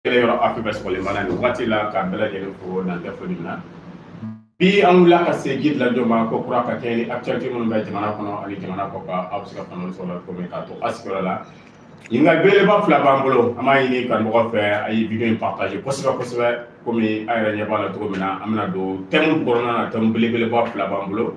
kɛlɛ yɔrɔ afiriki bɛ sɔgɔlen b'an na nin wagati la k'a bɛɛ lajɛlen fo dan tɛ foli min na bi an wulila ka se guide lajo ma ko kura ka kɛɲɛ ni actualité minnu bɛ jamana kɔnɔ ani jamana kɔkan aw bɛ se ka faamuya sɔrɔ a la cogo min k'a to a sigiyɔrɔ la ɲininkali belebeleba fila b'an bolo an b'a ɲini kanubagaw fɛ a ye video in partager kosɛbɛ kosɛbɛ komi aw yɛrɛ ɲɛ b'a la cogo min na an bɛna don thème kɔnɔna na thème belebeleba fila b'an bolo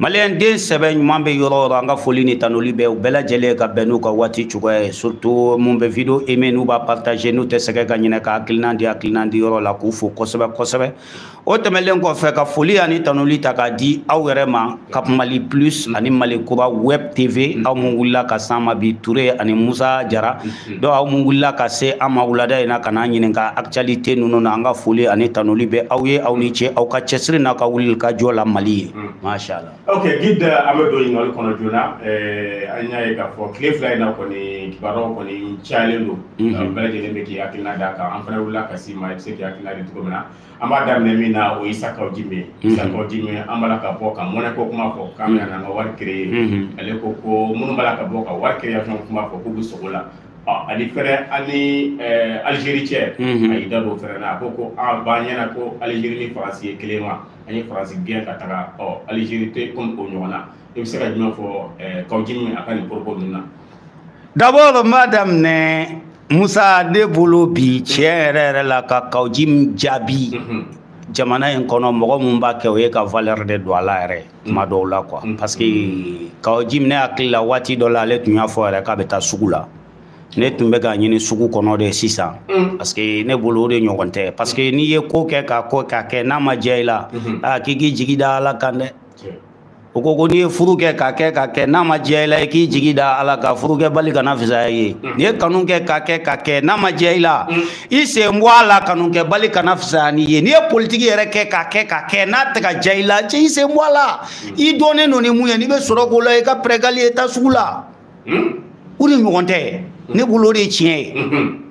maliyɛn den sɛbɛ ɲuman bɛ yɔrɔ o yɔrɔ an ka foli ni tanuli bɛ u bɛɛ lajɛlen ye ka bɛn n'u ka waati cogoya ye surtout mun bɛ video aimer n'u b'a partager n'u tɛ sɛgɛn ka ɲinɛ ka hakilina di hakilina di yɔrɔ la k'u fo kosɛbɛ kosɛbɛ o tɛmɛnlen kɔfɛ ka foli ani tanuli ta k'a di aw yɛrɛ ma cap mali plus ani mali kura web tv aw mun wulila ka s'an ma bi ture ani musa jara Hmm. donc aw mun wulila ka se an ma wulada in na ka n'an ɲininka actualité ninnu na an ka foli ani tanuli bɛ aw ye aw ni ce aw ka cɛsiri n'aw ka wulili ka jɔ la mali ye hmm. masha allah ok guide an bɛ don ɲininkali kɔnɔ joona eh, an y'a ye k'a fɔ tile fila in na kɔni kibaruyaw kɔni cayalen don hmm. bɛɛ lajɛlen bɛ k'i hakilina d'a kan an fana wulila ka s'i ma i bɛ se k'i hakilina di cogo min na an b'a daminɛ min na o ye isa kawo jim ye isa kawo jim an b'a la ka bɔ ka monnaie ko kuma fɔ k'an bɛna n'an ka wari créer ale ko ko minnu b'a la ka bɔ ka wari création kuma fɔ k'u bɛ sugo la ani fɛnɛ ani alizeri cɛ a y'i da don o fɛnɛ na a ko ko a b'an ɲɛna ko alizeri ni faransi ye kelen wa an ye faransi gɛn ka taga ɔ alizeri tɛ komi o ɲɔgɔn na i bɛ se ka jumɛn fɔ eh, kawo jim a ka nin propos ninnu na d'abord n b'a daminɛ musa ne bolo bi tiɲɛ yɛrɛ yɛrɛ la ka kawo jim jaabi mhm. jamana in kɔnɔ mɔgɔ min b'a kɛ o ye ka valeur de don a la yɛrɛ tuma dɔw la quoi mhm. parce que kawo jim ne hakili la waati dɔ la ale tun y'a fɔ yɛrɛ k'a bɛ taa sugu la ne tun bɛ k'a ɲini sugu kɔnɔ de sisan mm. parce que ne bolo o de ɲɔgɔn tɛ parce que n'i ye ko kɛ k'a kɛ k'a kɛ n'a ma diya i la mm-hmm. aa ah, k'i k'i jigi da ala kan dɛ o ko ko n'i ye furu kɛ k'a kɛ k'a kɛ n'a ma diya i la i k'i jigi da ala kan furukɛbali kana fisaya i ye mm. n'i ye kanu kɛ k'a kɛ k'a kɛ n'a ma diya i la mm. i sen bɔ a la kanukɛbali kana fisaya n'i ye n'i ye politiki yɛrɛ kɛ k'a kɛ k'a kɛ n'a tɛ ka diya i la cɛ i sen bɔ a la mm. i dɔnnen don ni mun ye n'i bɛ sɔrɔ k'o la i ka pɛrɛgali ye taa sugu la o de ɲɔgɔn tɛ ne bolo o de ye tiɲɛ ye mm-hmm.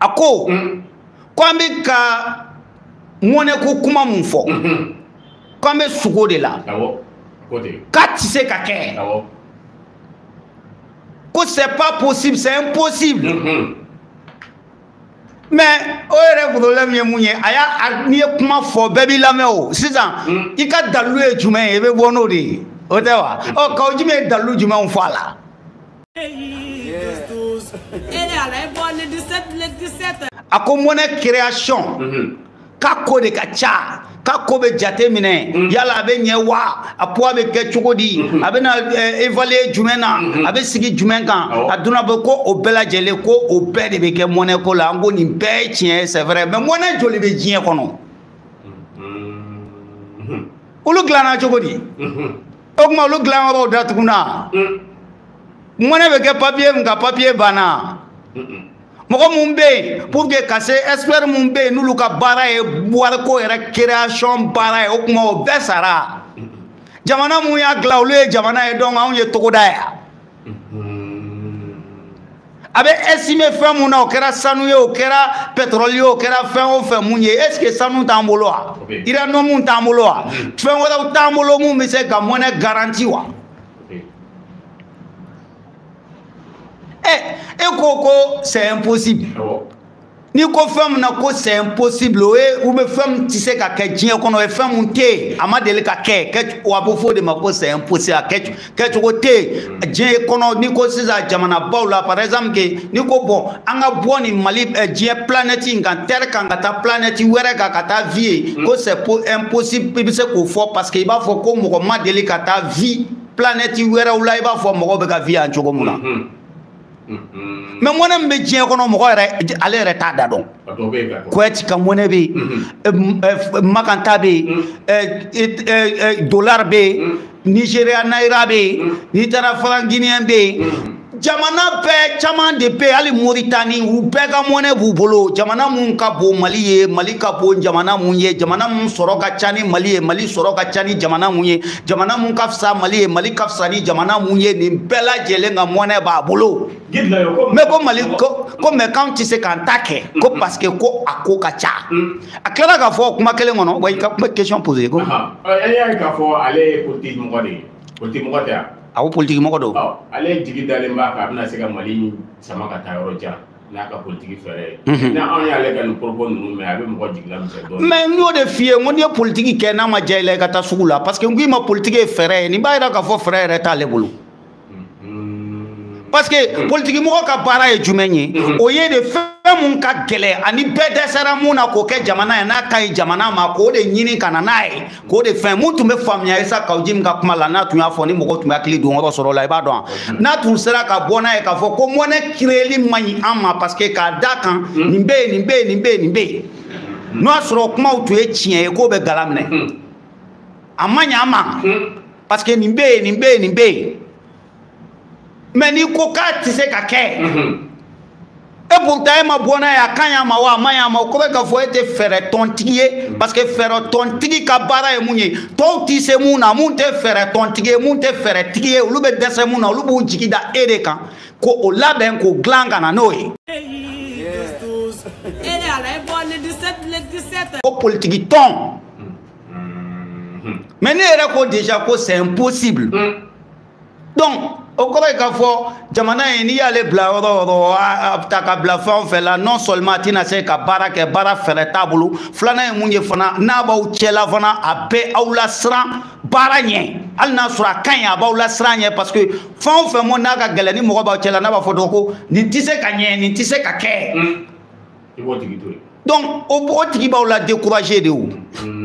a ko mm. ko an bɛ ka mɔnɛko kuma mun fɔ mm-hmm. ko an bɛ sugo de la k'a tɛ se ka kɛ ko c'est pas possible c'est impossible mm-hmm. mais o yɛrɛ problème ye mun ye a y'a n'i ye kuma fɔ bɛɛ b'i lamɛn o sisan mm. i ka dalilu ye jumɛn ye i bɛ bɔ n'o de ye o tɛ wa ɔ kawu jim ye dalilu jumɛnw fɔ a la a ko mɔnɛ création mhm. k'a ko de ka ca k'a ko bɛ jate minɛ mhm. yala a bɛ ɲɛ wa a poids bɛ kɛ cogo di mhm. a bɛna eh, évaluer jumɛn na a bɛ sigi jumɛn kan a donna bɛ ko o bɛɛ lajɛlen ko o bɛɛ de bɛ kɛ mɔnɛ ko la an ko nin bɛɛ ye tiɲɛ ye c'est vrai mais mɔnɛ joli bɛ diɲɛ kɔnɔ olu dilanna cogo di o tuma olu dilanyɔrɔw datuguna mɔnɛ bɛ kɛ papiye min kan papiye banna mɔgɔ minnu bɛ yen pour que ka se expert minnu bɛ yen n'olu ka baara ye wariko yɛrɛ création baara ye o tuma o bɛɛ sara jamana minnu y'a dilan olu ye jamana ye donc anw ye togoda ye a bɛ estimer fɛn mun na o kɛra sanu ye o kɛra pɛtɔrɔli ye o kɛra fɛn o fɛn mun ye est ce que sanu t'an bolo wa uranium t'an bolo wa fɛn wɛrɛw t'an bolo mun bɛ se ka mɔnɛ garanti wa e e ko ko c'est impossible n'i ko fɛn min na ko c'est impossible o ye ou bien fɛn min tɛ se ka kɛ diɲɛ kɔnɔ o ye fɛn min tɛ yen a ma deli ka kɛ wa a bɛ fɔ o de ma ko c'est impossible a kɛ kɛcogo tɛ yen diɲɛ kɔnɔ n'i ko sisan jamanabaw la par exemple que n'i ko bon an ka bɔ nin mali diɲɛ planète in kan terre kan ka taa planète wɛrɛ kan ka taa vie yen ko c'est impossible i bɛ se k'o fɔ parce que i b'a fɔ ko mɔgɔ ma deli ka taa vie planète wɛrɛw la i b'a fɔ mɔgɔw bɛ ka vie yan cogo min na. mais mɔnɛ min bɛ diɲɛ kɔnɔ mɔgɔ yɛrɛ ale yɛrɛ t'a da dɔn kuwɛti ka mɔnɛ bɛ yen makan ta bɛ yen dolari bɛ yen nizeriya nayira bɛ yen n'i taara franc guinéen bɛ yen jamana bɛɛ caman de bɛ hali moritani u bɛɛ ka mɔnɛ b'u bolo jamana mun ka bon mali ye mali ka bon jamana mun ye jamana mun sɔrɔ ka ca ni mali ye mali sɔrɔ ka ca ni jamana mun ye jamana mun ka fisa mali ye mali ka fisa ni jamana mun ye nin bɛɛ lajɛlen ka mɔnɛ b'a bolo mais ko mali ko ko mais k'anw tɛ se k'an ta kɛ ko mm-hmm. parce que ko a ko ka ca mm. a tilala k'a fɔ kuma kelen kɔnɔ wa i ka kuma question poser ko. e y'a ye k'a fɔ ale ye politiki mɔgɔ de ye politiki mɔgɔ tɛ yan. a ko politiki mɔgɔ don. ale jigi dalen b'a kan a bɛna se ka mali sama ka taa yɔrɔ jan. n'a ka politiki fɛɛrɛ ye mhm. ni anw y'ale ka nin propos ninnu mɛn a bɛ mɔgɔ jigi lamisɛn dɔɔni mais n y'o de f'i ye n ko n'i ye politiki kɛ n'a ma diya i la i ka taa sugu la parce que n ko i ma politiki ye fɛɛrɛ ye nin b'a jira k'a fɔ fɛɛrɛ yɛrɛ t'ale bolo mhm. parce que mhm. politiki mɔgɔ ka baara ye jumɛn ye o ye de fɛn mun ka gɛlɛn ani bɛɛ dɛsɛra mun na k'o kɛ jamana ye n'a ka ɲi jamana ma k'o de ɲini ka na n'a ye k'o de fɛn mun tun bɛ faamuya isa kawu jim in ka kuma la n'a tun y'a fɔ ni mɔgɔ tun bɛ hakili don yɔrɔ sɔrɔ la i b'a dɔn n'a tun sera ka bɔ n'a ye k'a fɔ ko monnaie créeli man ɲi an ma parce que k'a da kan nin bɛ yen nin bɛ yen nin bɛ yen nin bɛ yen n'o y'a sɔrɔ kumaw tun ye tiɲɛ ye k'o bɛ gala minɛ a man ɲi an ma parce que nin bɛ yen nin bɛ yen nin bɛ yen mais n'i ko k'a tɛ se ka kɛ e pourtant e ma bɔ n'a ye a ka ɲi an ma wa a man ɲi an ma o kɔrɔ k'a fɔ e tɛ fɛɛrɛ tɔntigi ye parce que fɛɛrɛ tɔntigi ka baara ye mun ye tɔw tɛ se mun na mun tɛ fɛɛrɛ tɔntigi ye mun tɛ fɛɛrɛ tigi ye olu bɛ dɛsɛ mun na olu b'u jigi da e de kan ko o labɛn k'o dilan ka na n'o ye. ko politiki tɔn mais n'i yɛrɛ ko déjà ko c'est impossible. Mm. donc o kɔrɔ ye k'a fɔ jamana ye n'i y'ale bila yɔrɔ o yɔrɔ a bɛ taa ka bila fɛn o fɛn la non seulement a tɛna se ka baara kɛ baara fɛɛrɛ t'a bolo filanan ye mun ye fana n'a b'aw cɛla fana a bɛ aw lasiran baara ɲɛ hali n'a sɔrɔ a ka ɲi a b'aw lasiran ɲɛ parce que fɛn o fɛn mɔ n'a ka gɛlɛn ni mɔgɔ b'aw cɛla n'a b'a fɔ dɔrɔn ko nin tɛ se ka ɲɛ nin tɛ se ka kɛ hmm. donc o tigi b'aw la décourager de o. Hmm.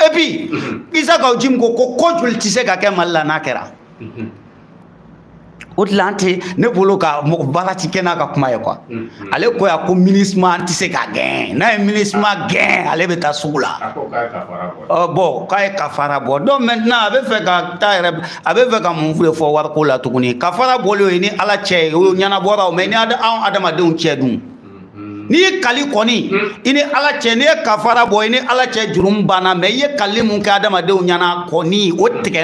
et puis isa kaw jim ko ko ko joli tɛ se ka kɛ mali la n'a kɛra o de la an tɛ ne bolo ka mɔgɔ baara ti kɛ n'a ka kuma ye quoi ale ko yan ko minusma an tɛ se k'a gɛn n'a ye minusma gɛn ale bɛ taa sugu la ɔ bon k'a ye kafara bɔ donc maintenant a bɛ fɛ ka taa yɛrɛ a bɛ fɛ ka mun de fɔ wariko la tuguni kafara bɔlen o ye ni ala cɛ ye o ɲɛnabɔra o mais ni anw adamadenw cɛ dun n'i ye kali kɔni i ni ala cɛ n'i ye kafara bɔ i ni ala cɛ jurumu banna mais i ye kali mun kɛ adamadenw ɲɛna kɔni o tigɛ